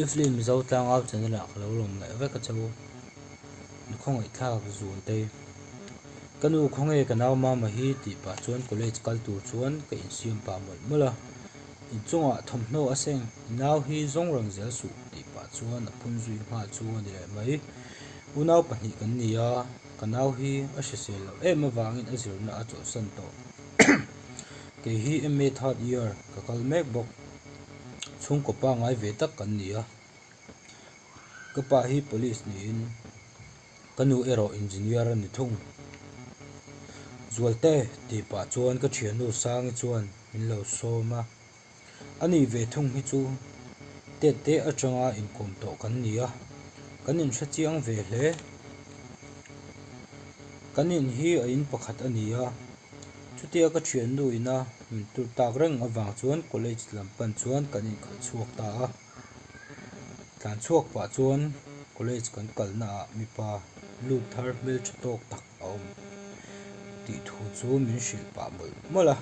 I film zotlang au chena lah ka lo lawm leh vek a chau. Ni khawngaihthlak zun te. Ka nu khawnge ka nau mama hi tih pah chuan college kal tur chuan ka insiam pah mawlh mawlh a. Inchungah thawmhnaw a seng, i nau hi zawng rang zel suh tih pah chuan a phun zui nghal chu a ni leh mai. Unau pahnih kan ni a, ka nau hi a hrisel loh em avangin a zirna a chawlhsan tawh. Kei hi MA third year ka kal mek bawk. chhungkaw pa ngai ve tak kan ni a ka pa hi police niin ka nu erawh engineer a ni thung Zualte tih pah chuan ka thiannu Sangi chuan min lo sawm a a ni ve thung hi chu Ted te atanga inkawm tawh kan ni a kan in hre chiang ve hle kan in hi a in pakhat a ni a. Chutia ka thiannu ina min tlur tak reng avang chuan college lam pan chuan kan inkal chhuak ta a. Tlan chhuak pah chuan college kan kalna ah mipa lut thar hmeltha tawk tak a awm tih thu chu min hrilh pah mawlh mawlh a.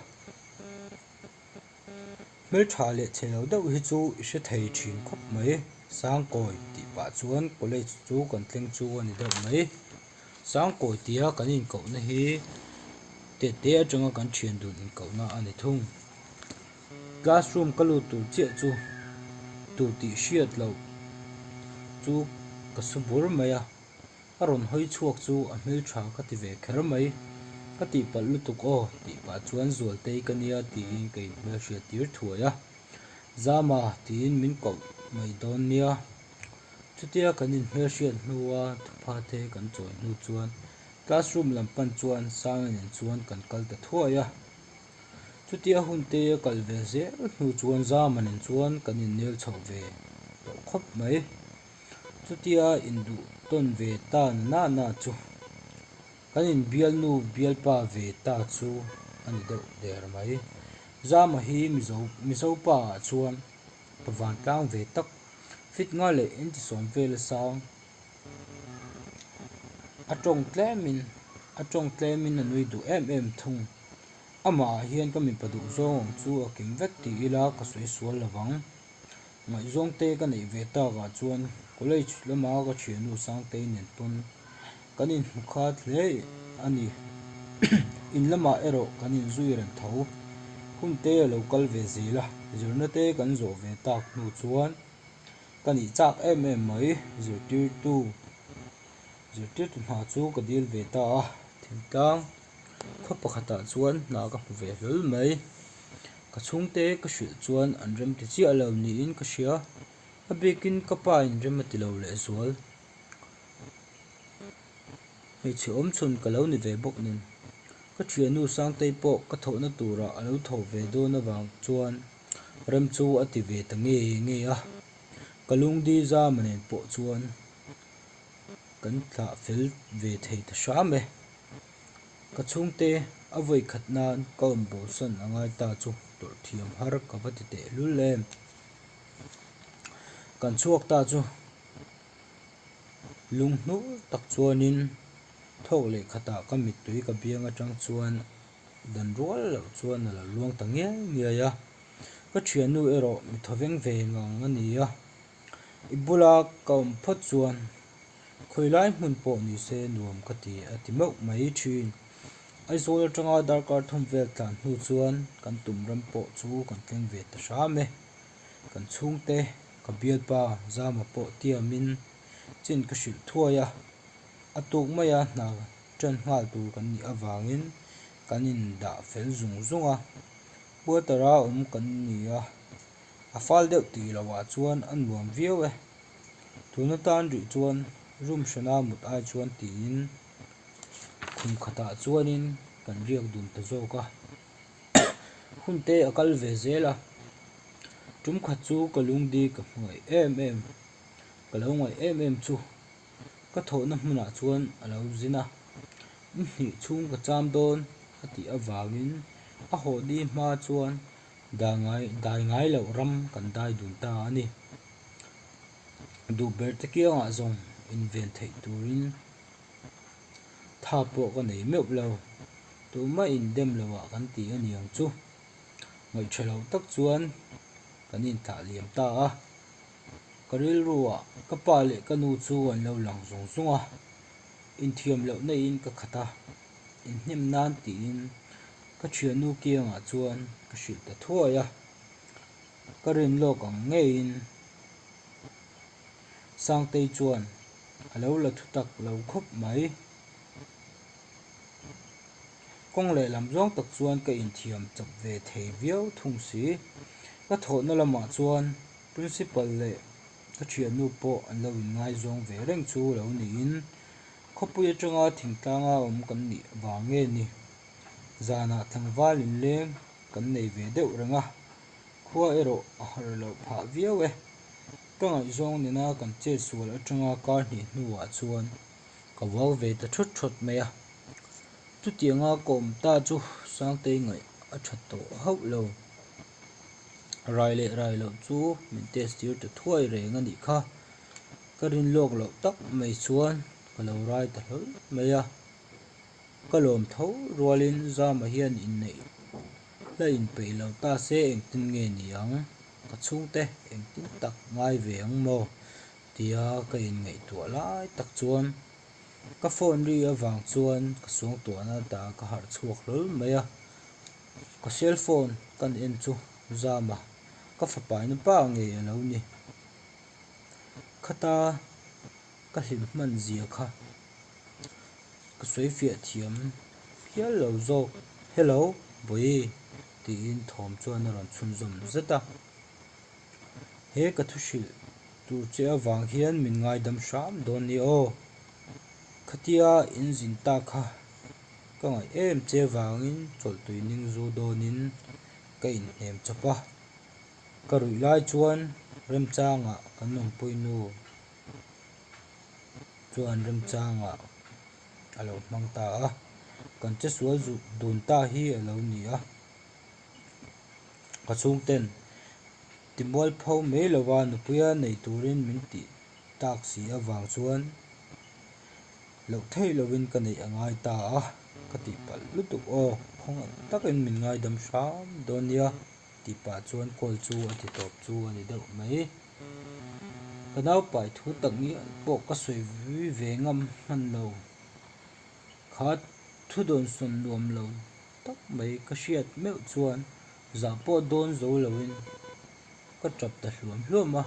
Hmeltha leh chelo deuh hi chu i hre thei thin khawp mai. Sangkawi tih pah chuan college chu kan tleng chu a ni deuh mai. Sangkawi tia kan inkohna hi te te atanga kan thian dun inkohna a ni thung. Classroom ka lut tur chiah chu tut tih hriat loh chu ka su bur mai a. a rawn hawi chhuak chu a hmel tha ka ti ve kher mai, ka tihpalh lutuk aw tih pah chuan Zualtei ka nia tiin ka inhmelhriat tir thuai a, Zama tiin min koh mai dawn nia, chutia kan inhmelhriat hnua thupha te kan chawi hnu chuan classroom lam pan chuan Sangin in chuan kan kal ta thuai a, chutia hun te a kal ve zel hnu chuan Zaman in chuan kan innel chhoh ve tawh khawp mai. Chutia induh tawn ve ta nana chu kan in bialnu bialpa ve ta chu a ni deuh der mai. Zama hi Mizo Mizo pa ah chuan ka vantlang ve tak, fitnga leh intisawm vela sang a tawng tlem in a tawng tlem in a nui duh em em thung. Amah ah hian ka mipa duh zawng ang chu a kim vek ti ila ka sawi sual lovang. Ngaih zawngte ka neih ve tak ah chuan college lama ka thiannu Sangtei nen pawn kan in hmu khat hle a ni. In lamah erawh kan in zui reng tho. Hun te a lo kal ve zel a, zirna te kan zawh ve tak hnu chuan ka nih chak em em mai. Zirtirtu, zirtirtu hna chu ka dil ve ta a, thil tlang. Khaw pakhatah chuan hna ka hmu ve hlul mai. Ka chhungte ka hrilh chuan an rem ti chiah lo niin ka hria. A bikin ka pain rem a ti lo leh zual. Hmeichhe awmchhun ka lo ni ve bawk nen, ka thiannu Sangtei pawh ka thawhna tura a lo thaw ve dawn avang chuan rem chu a ti ve ta nge nge a. Ka lungdil zam a nen pawh chuan kan thlah fel ve thei ta hram e. Ka chhungte a vawi khat nan ka awm bawlsan a ngai ta chu tawrh thiam har ka va ti teh hlul em. Kan chhuak ta chu lung hnur tak chuanin thawk leh khatah ka mittui ka biang atang chuan dan rual loh chuan a lo luang ta ngiai ngiai a. Ka thiannu erawh mi thaw veng veng ang a ni a. I bula ka awm phawt chuan. Khawilai hmun pawh ni se nuam ka ti a ti meuh mai thin. Aizawl atanga darkar thawm vel tlan hnu chuan kan tum ram pawh chu kan tleng ve ta hram e. Kan chhungte, ka bialpa Zama pawh tiamin chin ka hrilh thuai a. A tuk maia hna ṭan nghal tur kan nih avangin kan indah fel zung zung a. Puatara awm kan ni a. a fal deuh tih lo ah chuan a nuam viau e tun atan rih chuan room hrena mut ai chuan tiin khumkhat ah chuanin kan riak dun ta zawk a hun te a kal ve zel a tum khat chu ka lung ding ka hmuai em em ka lo ngaih em em chu ka thawh na hmun ah chuan a lo zin a in hnih chhung ka cham dawn a tih avangin a haw dihma chuan. Dah ngai, dai ngai loh ram kan dai dun ta a ni. Duh ber te kiangah zawng inven theih turin tha pawh ka nei meuh lo. Tumah indem lohah kan ti a niang chu. Ngaihtha loh tak chuan kan inthah liam ta a. Ka rilruah ka pa leh ka nu chu an lo lang zung zung a. Inthiam loh naihin ka khat a. in hnem nan tiin ka thiannu kiangah chuan ka hrilh ta thuai a, ka rin lawk ang ngeiin Sangtei chuan a lo la thutak lo khawp mai. Kawng lehlam zawng tak chuan ka inthiam chap ve thei viau thung si. Ka thawhna lamah chuan Principal leh ka thiannu pawh an lo in ngaizawng ve reng chu lo niin Khawpui atanga thingtlanga awm kan nih vang nge ni? Zanah tlangval inleng kan nei ve deuh reng a, khua erawh a harh loh phah viau e. Ka ngaihzawng nena kan chet sual atanga kar hnih hnuah chuan ka vuak ve ta thut thut mai a. Chutianga ka awm ta chu Sangtei ngaih a tha tawh hauh lo. Rai leh rai loh chu min test tir ta thuai reng a nih kha. Ka rin lawk loh tak mai chuan ka lo rai ta hlawl mai a, ka lawm tho rualin Zama hian inneih hla inpeih lo ta se engtin nge ni ang, ka chhungte engtin tak ngai ve ang maw tia ka inngaihtuah lai tak chuan ka phone ri avang chuan ka suangtuahna ata ka harh chhuak hlawl mai a, ka cellphone kan en chu Zama ka fapa ina pa nge alo ni? Khata ka hlim hman zia kha ka sawi fiah thiam hial lo zawk. Hello Bawihi tiin thawm chuan a rawn chhunzawm zet a. He ka thu hrilh tur che avang hian min ngaidam hram dawn ni aw. Khatia in zin ta kha ka ngaih em che vangin chawlh tuining zu dawnin ka inhnem chawp a. Ka ruih lai chuan Remchanga kan lawmpui nu chuan Remchanga a lo hmang ta a, kan che sual zuh dun ta hi a lo ni a. Ka chhungten timual pho mai lo a nupuia nei turin min tih tak si avang chuan loh theih lovin ka neih a ngai ta a, ka tih palh lutuk aw. Khawngaih takin min ngaidam hram dawn nia. Tih pah chuan call chu a ti tawp chu a ni deuh mai. Ka naupai thu tak ni pawh ka sawi ve ngam hman lo. Kha thu dawn sawn nuam lo tak mai ka hriat meuh chuan zah pawh dawn zo lo in ka tap ta hluam hluam a.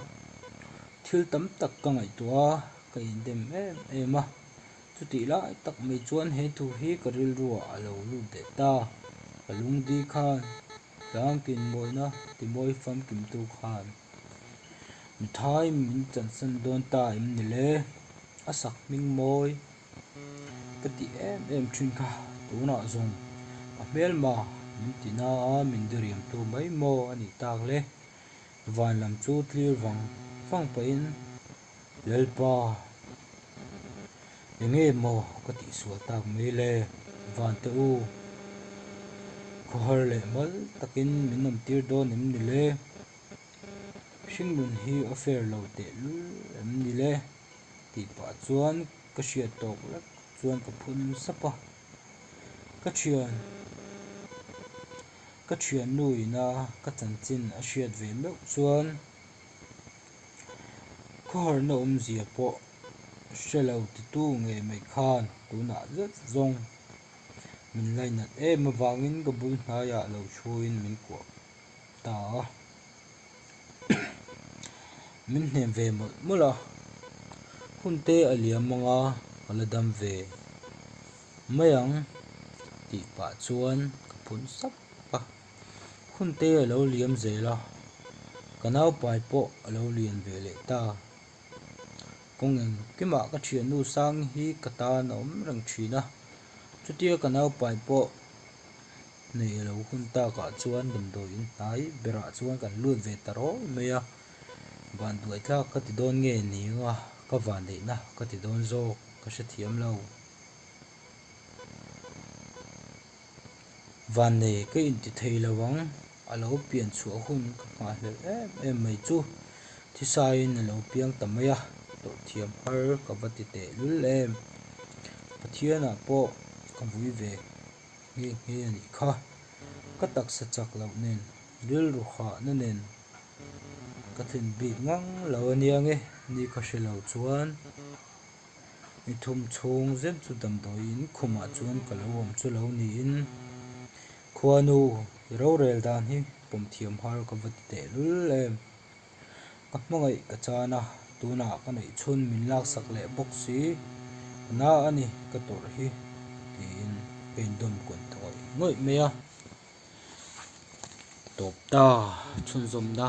Thil tam tak ka ngaihtuah a, ka indem em em a. Chutih lai tak mai chuan he thu hi ka rilru ah a lo lut leh ta. Ka lungdi khan. Tlangkin mawina timawi famkimtu khan mi thai min chansan dawn ta em ni le? A sak hming mawi ka ti em em thin kha tunah zawng a hmelma min ti na a min diriamtu mai maw a nih tak le? Vanlam chu tlirvang vang pahin. Lalpa, Enge maw ka tih sual tak mai le? Vante u, khawhar leh mal takin min awm tir dawn em ni le? Hringnun hi offer lo tehlul em ni le? Tih pah chuan ka hriat tawk lek chuan ka phun sap a. Ka thian ka thiannu ina ka chanchin a hriat ve meuh chuan. Khuaharna awmzia pawh hre lo titu nge mai khan tunah zet zawng min lainat em avangin ka bul hnaiah lo thuin min kuah ta a. Min hnem ve mawlh mawlh a, hunte a liam anga ka la dam ve mai ang tih pah chuan ka phun sap a. Khunte a lo liam zel a, ka naupai pawh a lo lian ve leh ta. Kawng engkimah ka thiannu Sangi hi ka tan a awm reng thin a, chutia ka naupai pawh hneih a lo hun takah chuan damdawiin hnai berah chuan kan lut ve ta rawi mai a, van duaithlak ka ti dawn nge nia ka vandeihna ka ti dawn zawk ka hrethiam lo. Vannei ka inti thei lo ang, a lo pian chhuah hun ka nghah hlel em em mai chu. Thisain a lo piang ta mai a, tawh thiam har ka va ti tehlul em. Pathianah pawh ka vui ve nghe nghe a nih kha. Ka taksa chak loh nen, rilru hahna nen ka thlin bik ngang lo aniang e, ni ka hre lo chuan I thum chhung zet chu damdawiin khumah chuan ka lo awm chu lo niin Khuanu i rorel dan hi pawm thiam har ka va ti tehlul em. Ka hmangaih ka chan a, tunah ka neih chhun min laksak leh bawk si, ka na a ni ka tawrh hi tiin ka indawn kawn ta ngawih ngawih mai a. Tawp ta chhunzawmna.